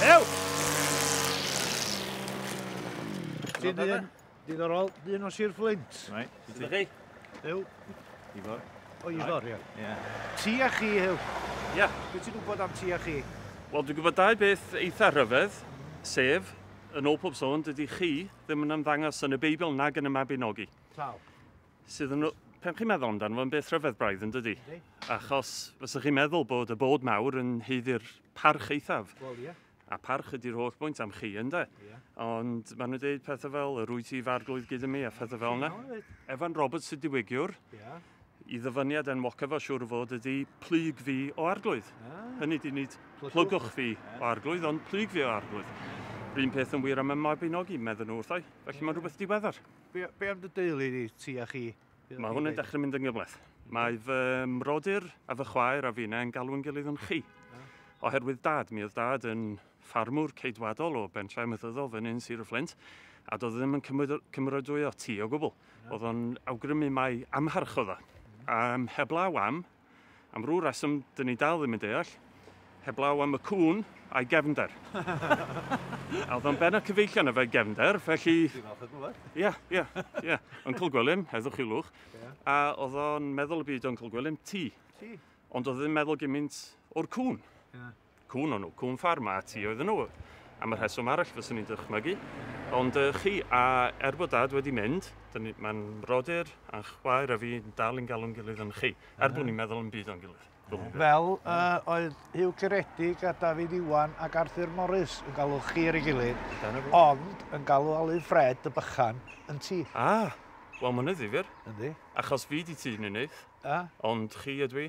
Ew! Ti'n dyn, diddorol, dyn o Sir Flint. Right. Ydych chi? Ew. Ifor. O, Ifor, ie. Ie. Ti a chi, Ew. Ie. Be ti'n gwybod am ti a chi? Wel, dwi'n gwybod dau beth eitha rhyfedd, sef, yn ôl pob sôn, dydy chi ddim yn ymddangos yn y Beibl nag yn y Mabinogi. Tal. sydd yn... Pen chi'n meddwl amdano fo'n beth rhyfedd braidd yn dydy? Ydy. Achos fysa chi'n meddwl bod y bod mawr yn heiddi'r parch eithaf. Wel, ie. A parch ydy'r holl bwynt am chi, ynddo? Ie. Ond maen nhw'n dweud pethau fel, yr wyt ti farglwydd gyda mi a phethau fel yna. Evan Roberts y diwygiwr. Ie. I ddyfyniad enwoca fo siwr fod ydy plyg fi o arglwydd. Ah. Hynny di nid plygwch fi o arglwydd, ond plyg fi o arglwydd. Rhyn peth yn wir am y Mabinogi, meddyn nhw wrthau. Felly mae'n rhywbeth diweddar. Be, be am dy deulu di, ti a chi? Mae hwn yn dechrau mynd yn gyfleth. Mae fy mrodyr a fy chwaer a fi'n e'n galw'n gilydd yn chi. Oherwydd dad, mi oedd dad yn ffarmwr ceidwadol o bentref mythyddol fy nyn Sir y Fflint, a doedd ddim yn cymrydwyo ti o gwbl. Oedd o'n awgrymu mai amharchodd o. Um, heblaw am, Am rhyw reswm, dyn ni dal ddim yn deall, heblaw am y cŵn a'i gefnder. a oedd o'n ben a cyfeillion efe gefnder, felly... Dwi'n falch o gwybod. Ia, ia, ia. Uncle Gwilym, heddwch i lwch. Yeah. A oedd o'n meddwl y byd Uncle Gwilym, ti. Ti. Ond oedd ddim meddwl gymaint o'r cŵn. Yeah. Cŵn o'n nhw, cŵn ffarm a ti oedden nhw, am y rheswm arall fyswn i'n dychmygu. Ond uh, chi, a er bod dad wedi mynd, mae'n brodyr a'n chwaer a fi dal yn galw'n gilydd yn chi, er bod ni'n meddwl yn byd o'n gilydd. Fel uh, oedd Hugh Ceredig a David Iwan ac Arthur Morris yn galw chi ar ei gilydd, ond yn galw Alu Fred y bychan yn ti. Ah, wel mae'n ddifyr. Yndi. Achos fi di ti, Ninydd. Ah. Ond chi ydw i.